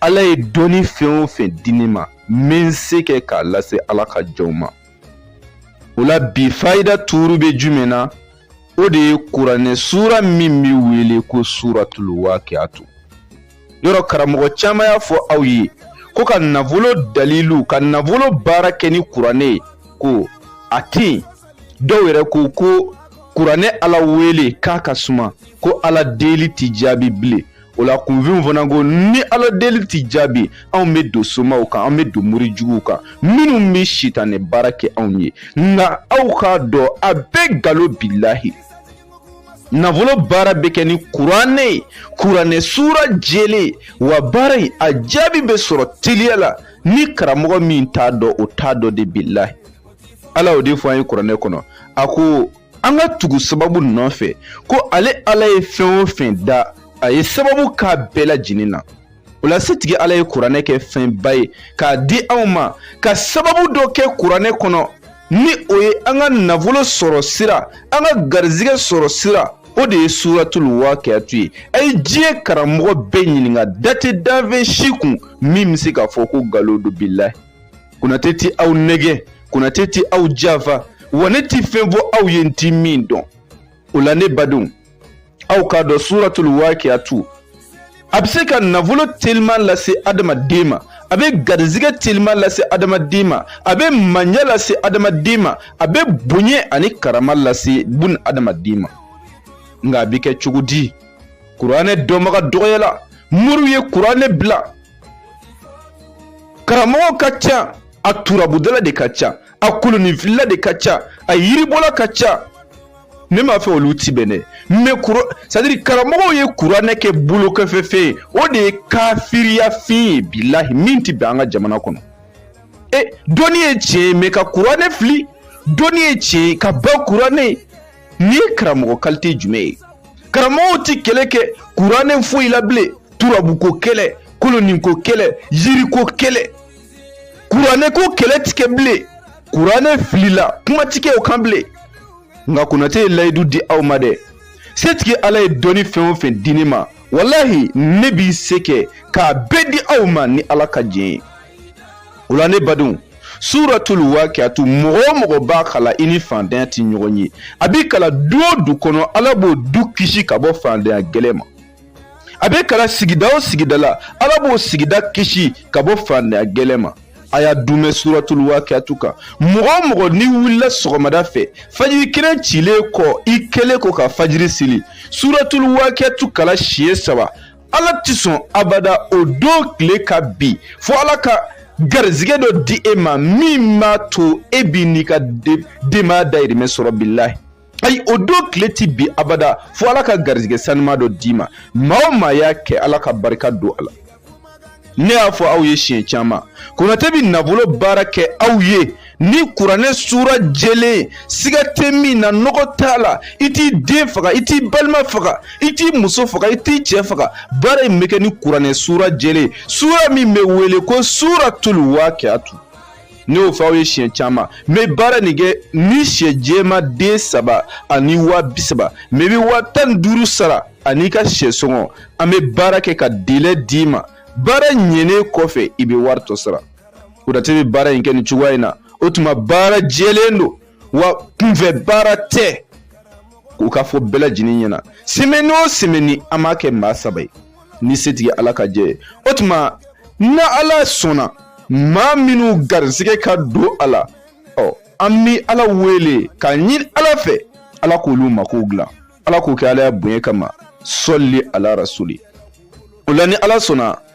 ala ye dɔnni fɛn o fɛn di ne ma n bɛ n se kɛ k'a lase ala ka jɔnw ma o la bi fayida tuuru bɛ jumɛn na o de ye kuranɛ suura min bɛ wele ko suuratul waakiyatu yɔrɔ karamɔgɔ caman y'a fɔ aw ye ko ka nafolo dalilu ka nafolo baara kɛ ni kuranɛ ye ko a tɛ yen dɔw yɛrɛ ko ko kuranɛ ala wele k'a ka suma ko ala deli tɛ jaabi bilen o la kunfinw fana ko ni ala deli tɛ jaabi anw bɛ don somaw kan an bɛ don mori juguw kan minnu bɛ sitanɛ baara kɛ anw ye nka aw k'a dɔn a bɛɛ nkalon bilahi nafolo baara bɛ kɛ ni kuranɛ ye kuranɛ suura jɛlen wa baara in a jaabi bɛ sɔrɔ teliya la ni karamɔgɔ min t'a dɔn o t'a dɔn de bilahi ala y'o de fɔ an ye kuranɛ kɔnɔ a ko an ka tugu sababu nɔfɛ ko ale ala ye fɛn o fɛn da a ye sababu k'a bɛɛ lajɛlen na o la setigi ala ye kuranɛ kɛ fɛnba ye k'a di anw ma ka sababu dɔ kɛ kuranɛ kɔnɔ ni o ye an ka nafolo sɔrɔ sira an ka garizigɛ sɔrɔ sira o de ye suratul wakiyatu ye a ye diɲɛ karamɔgɔ bɛɛ ɲininka da tɛ danfɛn si kun min bɛ se k'a fɔ ko nkalon don bilahi konate ti aw nɛgɛn konate ti aw janfa wa ne ti fɛn fɔ aw ye n ti min dɔn o la ne badenw aw k'a dɔn suratul waakiyatu a bɛ se ka nafolo teliman lase adamaden ma a bɛ garizigɛ teliman lase adamaden ma a bɛ mandiya lase adamaden ma a bɛ bonya ani karama lase bun adamaden ma nka a bɛ kɛ cogo di kuranɛ dɔnbaga dɔgɔyala moriw ye kuranɛ bila karamɔgɔ ka ca a turabudala de ka ca a koloninfilila de ka ca a yiribɔla ka ca ne m'a fɔ olu ti bɛn dɛ mɛ sɛtadiri karamɔgɔw ye kuranɛ kɛ bolokɔfɛfɛn ye o de ye kafiriyafin ye bilahi min ti bɛn an ka jamana kɔnɔ e dɔnni ye tiɲɛ ye mɛ ka kuranɛ fili dɔnni ye tiɲɛ ye ka ban kuranɛ nin ye karamɔgɔ kalite jumɛn ye karamɔgɔw ti kɛlɛ kɛ kuranɛ foyi la bilen turabuko kɛlɛ koloninko kɛlɛ yiriko kɛlɛ kuranɛko kɛlɛ ti kɛ bilen kuranɛ filila kuma ti kɛ o kan bilen nka konate ye layidu di aw ma dɛ setigi ala ye dɔnni fɛn o fɛn di ne ma walahi ne b'i se kɛ k'a bɛɛ di aw ma ni ala ka jɛn ye o la ne badenw suratul wakiatu mɔgɔ o mɔgɔ b'a kalan i ni fantanya tɛ ɲɔgɔn ye a bi kalan du o du kɔnɔ ala b'o du kisi ka bɔ fantanya gɛlɛn ma a bɛ kalan sigida o sigida la ala b'o sigida kisi ka bɔ fantanya gɛlɛn ma a y'a dunmɛ suratul wakiatu kan mɔgɔ o mɔgɔ n'i wulila sɔgɔmada fɛ fajiri kɛnɛ cilen kɔ i kɛlen kɔ ka fajiri seli suratul wakiatu kalan siɲɛ saba ala tɛ sɔn abada o don tile ka bin fo ala ka garizigɛ dɔ di e ma min b'a to e b'i n'i ka denbaya dayirimɛ sɔrɔ bilahi ayi o don tile ti bin abada fo ala ka garizigɛ sanuma dɔ d'i ma maa o maa y'a kɛ ala ka barika don a la ne y'a fɔ aw ye siɲɛ caman konate bɛ nafolo baara kɛ aw ye ni kuranɛ sura jɛlen siga tɛ min na nɔgɔ t'a la i t'i den faga i t'i balima faga i t'i muso faga i t'i cɛ faga baara in bɛ kɛ ni kuranɛ sura jɛlen sura min bɛ wele ko suratul waqiatu ne y'o fɔ aw ye siɲɛ caman n bɛ baara nin kɛ ni syɛ jɛma den saba ani waa bi saba mɛ i bɛ waa tan ni duuru sara an'i ka syɛ sɔngɔ an bɛ baara kɛ ka delɛ d'i ma baara ɲɛnen kɔfɛ i bɛ wari tɔ sara konate bɛ baara in kɛ nin cogoya in na o tuma baara jɛlen don wa kunfɛ baara tɛ k'u k'a fɔ bɛɛ lajɛlen ɲɛna semɛni o semɛni an b'a kɛ maa saba ye ni setigi ala ka jɛ ye o tuma na ala sɔnna maa minnu garisigɛ ka don a la ɔ an bɛ ala wele k'a ɲini ala fɛ ala k'olu makow dilan ala k'o kɛ ala ya bonya kama sɔli ala rasuli o la ni ala sɔnna